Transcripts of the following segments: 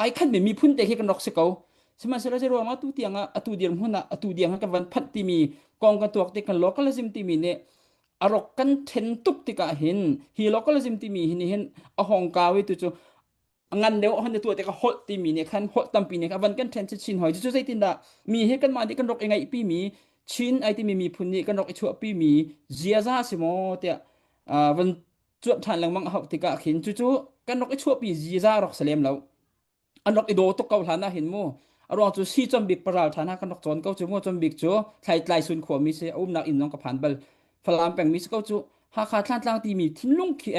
ai khan me miphun te hi kan rak si ko sihmanhsehlaw zei ruang atu tiang ah atu dirang hmun ah atu diang ah kan van phanh timi kong kan tuak ti kan localism timi nih arok kan then tuk tikah hin hi localism timi hi nih hin a hong ka we tu chu ngan deu hon de tu te ka hol timi ne khan hol tampi ne ka van kan then chin hoi chu zeitin da mi hi kan ma di kan rok ingai pi mi chin ai ti mi miphun ni kan rok ichua pi mi ziaza si mo te van cuap ṭhan lengmang a hauh tikah khin cucu kan rak i chuahpi ziza rak si lem lo an rak i do tuk ko hlan ah hin mu a ruang cu si chom bik paral ṭhan ha kan rak cawn ko cu mu chom bik cu thlai tlai sun khua mi si a umnak inn zong ka phan bal falam peng mi si ko cu Hakha Thlantlang timi thinlung khi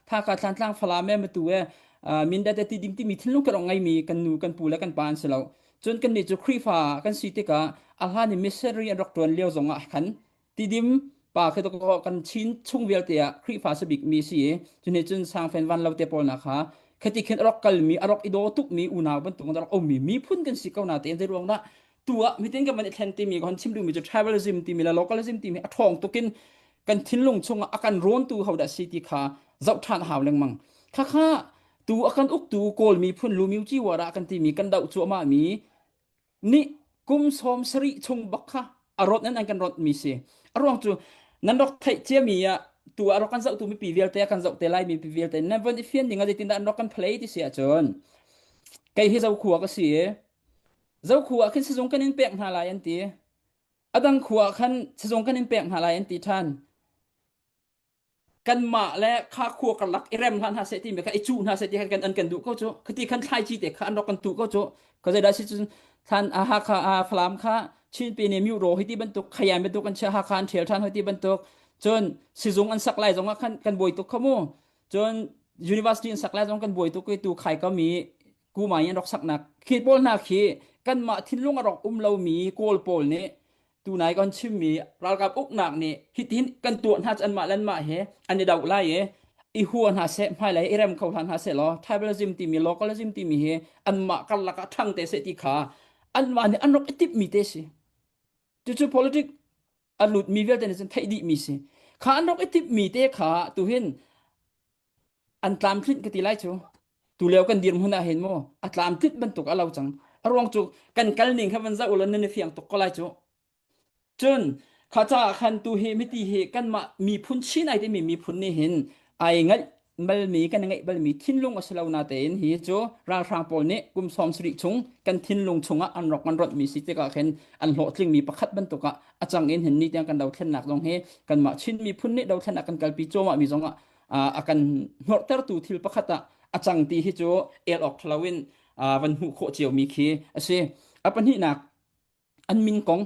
Hakha Thlantlang falam e matu e mindat ti ding timi thinlung kan ong ngai mi kan nu kan pu le kan pa an si lo cun kan nih cu Khrihfa kan si tikah a hlan i missionary an rak ṭuan lio zong ah khan tidim pa kha to kan chin chung vialte ah Khrihfa sa bikmi si i cuni cun sangfen van lo te pawl na kha khati khin arok kalmi arok ido tukmi unau bantuk arok omi miphun kan si ko na te zai ruang na tu ah mitin kan man thlen timi kon chim dumi chu tribalism timi la localism timi athong tukin kan thinlung chunga akan ron tu hauda si ti kha zau than haw leng mang kha kha tu akan uk tu kawl mi phun lu miu chi wara kan timi kan dau chu ma mi nih kum sawm sarih chung bak kha a rawt nan kan rawt mi si a ruang cu nan rak theih ciami ah tu a rak kan zoh tu mipi vialte a kan zoh te lai mi pi vialte nan von i fian ding a zeitin dah an rak kan phlei ti si ahcun kei hi zokhua ka si i zokhua khin sizung kan in pek hna lai an ti a dang khua khan sizung kan in pek hna lai an ti than kanmah le kha khua karlak i rem hlah hna seh ti me kha i cuh hna seh ti khan kan an kan duh ko cu khati khan thlai ci te kha an rak kan tu ko cu ka zai da si cun than a ha kha a falam kha chin pe ne miu ro hi ti bantuk khayam bantuk an chia ha khan thel than hoi ti bantuk cun sizung an sak lai zong kan kan boi tuk khamu cun university an sak lai zong kan boi tuk i tu khai ka mi kuma in rak saknak khi pawl hna khi kanmah thinlung a rak um lomi kawl pawl nih tunai kan chimmi ralkap uknak nih hitin kan tuah hna an mah len mah he an i dauh lai i i hua hna se hmai lai i rem kho hla hna se law tribalism timi localism timi hi an mah karlak ah ṭhang te se ti kha an mah nih an rak i tipmi te si cucu politic a lutmi vialte nih cun theih dihmi si kha an rak i tipmi te kha tu hin an tlamtlinh ka ti lai cu tu leo kan dirhmun ah hin maw a tlamtlit bantuk a lo cang a ruang cu kan kal ning kha van za ula nan i fiang tuk ko lai cu cun kha caah khan tu hi miti hi kanmah miphun chinai timi miphun nih hin ai ngaih balmi kan ngeih balmi thinlung a si lo na tein hi cu ralhrang pawl nih kum sawm sarih chung kan thinlung chungah an rak man rawt mi si tikah khin an hlawhtling mi pakhat bantuk ah a chang in hin ni tiang kan dothlennak zong hi kanmah Chin miphun nih dothlennak kan kalpi cuamah mi zong ah a kan hnawrtertu thil pakhat ah a chang ti hi cu el awk lo in van hmuh khawh cio mi khi a si a pahnihnak an min kong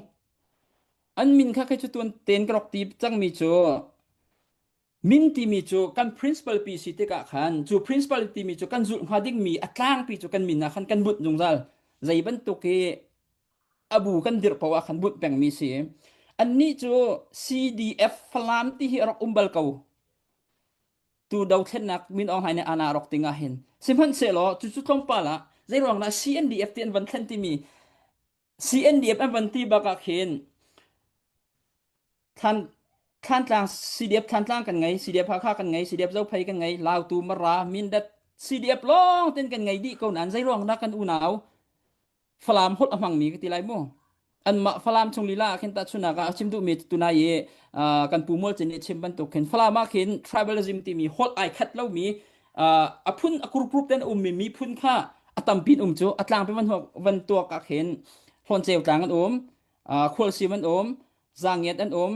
an min kha khe cu tuan ten ka rak ti cang mi cu min timi cu kan principal pi si tikah khan cu principal timi cu kan zulh hnga dingmi a tlangpi cu kan min ah khan kan bunh zungzal zei bantuk i abu kan dirh ko ah khan bunh pengmi si annih cu CDF Falam ti hi rak um bal ko tu dothlennak min ong hai ne ana rok tingah hin sihmanhsehlaw cu cu tlawmpal ah zeiruang na CNDF ti an van thlen timi CNDF an van ti bak ah khin thlan thlantlang CDF thlantlang kan ngei CDF Hakha kan ngei CDF Zophei kan ngei Lautu Mara Mindat CDF lawng ten kan ngei dih ko nan zei ruang dah kan unau Falam hot amang mi ka ti lai mu an mah Falam chung lila ah khin ta chunak ah chim duh mi tu tunai i kan pu mual chin i chim bantuk khin Falam ah khin tribalism ti mi hot ai khat lo mi a phun a kurkurup ten ummi miphun kha a tampin um cu a tlang pe van tuak ah khin hlawn ceu tlang an um khualsim an um zangiat an um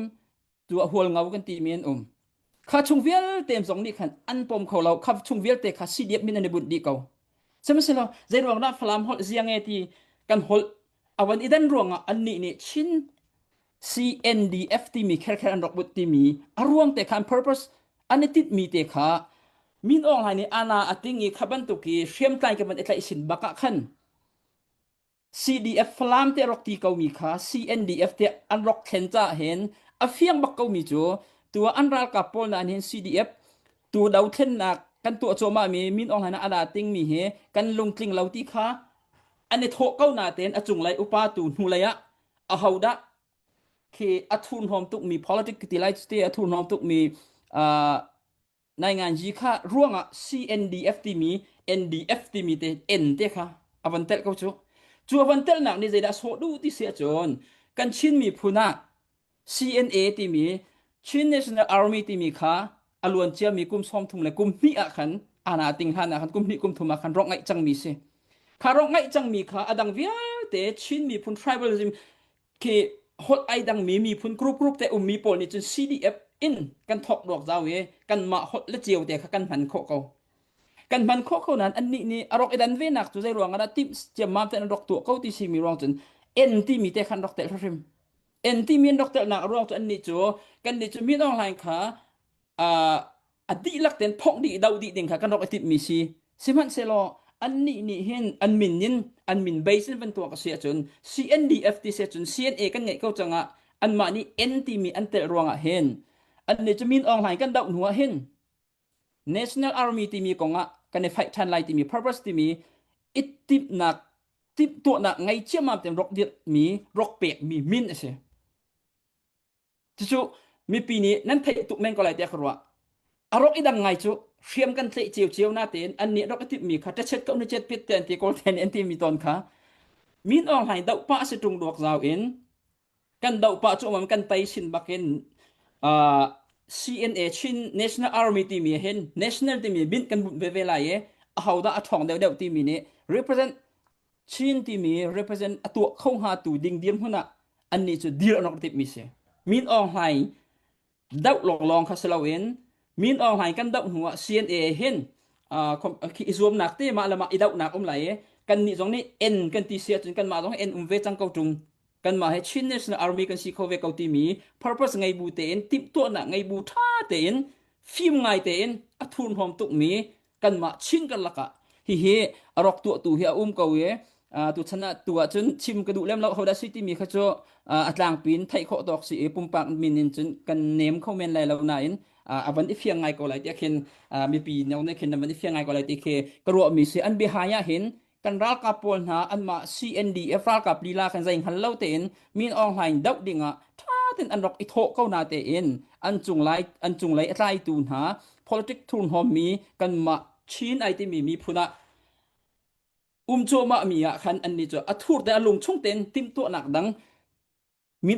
tua hual ngau kan timi an um kha chung vialte zong nih khan an pom kho lo kha chung vialte kha si diep min an i bunh dih ko sihmahselaw zei ruang dah falam holh ziange ti kan holh awan idan ruangah annih nih chin CNDF timi kherkher an rak but timi a ruang te khan purpose an i tit mi te kha min ong hai nih ana ating i kha bantuk i hriamtlai ke man itlaih sin bakah khan CDF Falam te rak ti ko mi kha CNDF te an rak thlen cha hen a fiang bak ko mi chu tua an ral ka pol na hin CDF tu do thlen nak kan tu choma mi min ong hai na ada ting mi he kan lung tling lo ti kha an i thawh ko natein a cunglei upa tu hnulei ah ahodah khi a thurhnawm tukmi politic ti lai cu te a thurhnawm tukmi uh, naingan ji kha ruangah CNDF timi NDF timi te N te kha avan tel ko chu chu avan tel nak ni zeidah so du ti se cun kan Chin miphun ah CNA timi Chin National Army timi kha a luan ciami kum sawm thum le kum hnih ah khan ana ting hlan ah khan kum hnih kum thum ah khan rok ngaih cangmi si kha rok ngaih cangmi kha a dang vialte Chin miphun tribalism khi hot ai dangmi miphun group group te ummi pawl nih cun CDF in kan thok duak zau i kan mah hot le ceo te kha kan hman khawh ko kan hman khawh ko nan anni nih a rok idan ve nak cu zei ruang ah tim ciam mam te an rok tu ko ti simi ruang cun en ti mi te khan rok te hrim en ti min rak telnak a ruang cu annih cu kannih cu min online kha a dihlak ten thawk dih doh dih ding kha kan rak i timhmi si sihmanhsehlaw annih nih hin an min in an min base in van tuak a si ahcun CNDF ti se cun CNA kan ngeih ko cangah anmah nih N timi an telh ruangah hin annih cu min online kan doh hnu ah hin National Army timi kong ah kan i faih ṭhan lai timi purpose timi i timhnak timh tuahnak ngei ciammam tein rawk dirhmi rawk pekmi min a si. Cucu mipi nih nan theih tuk men ko lai tiah ka ruah. A rawk i dang ngai cu hriam kan tleh cio cio na tein an nih rawk i timhmi kha ṭachet ko na chet pit te an ti kawl te an ti mi tawn kha min ong hlain doh pah a si ṭung duak zau in kan doh pah cu mam kan tei sin bakin uh, CNA Chin National Army timi hin national timi bin kan bunh ve ve lai i a hoda a thong deuh deuh timi nih represent Chin timi represent a tuah kho hnga tu ding dir hmun ah an ni cu dir anok tip mi si min ong hlai doh lawnglawng kha si loin min online kan doh hnu ah CNA hin khi i zuamnak te mah le mah i dohnak um lai i kan nih zong nih en kan ti si ahcun kanmah zong en um ve cang ko ṭung kanmah he Chin National Army kan si kho ve ko timi purpose ngei bu tein timhtuahnak ngei bu ṭha tein fim ngai tein a thurhnawm tukmi kanmah chin kan lakah hihi a rawk tuahtu hi a um ko i tu chan ah tu ahcun chim ka duh lem lo hodah si timi kha cu a tlangpi in theih khawh tawk si i pumpak min in cun kan nem kho men lai lo nain a van i fiang ngai ko lai tiah khin mipi no nih khin a van i fiang ngai ko lai ti khi ka ruahmi si an bihai ah hin kan ralkap pawl hna anmah CNDF ralkap lila kan zei hngal lo tein min Aung Hlaing doh dingah tha ten an rak i thawh ko na tein an cung lai an cung lei a tlai tu hna politic thur hnom mi kanmah Chin ai timi mi phun ah umchuama mi ah khan an ni chu a thur te a lung chung ten tim tuah nak dang min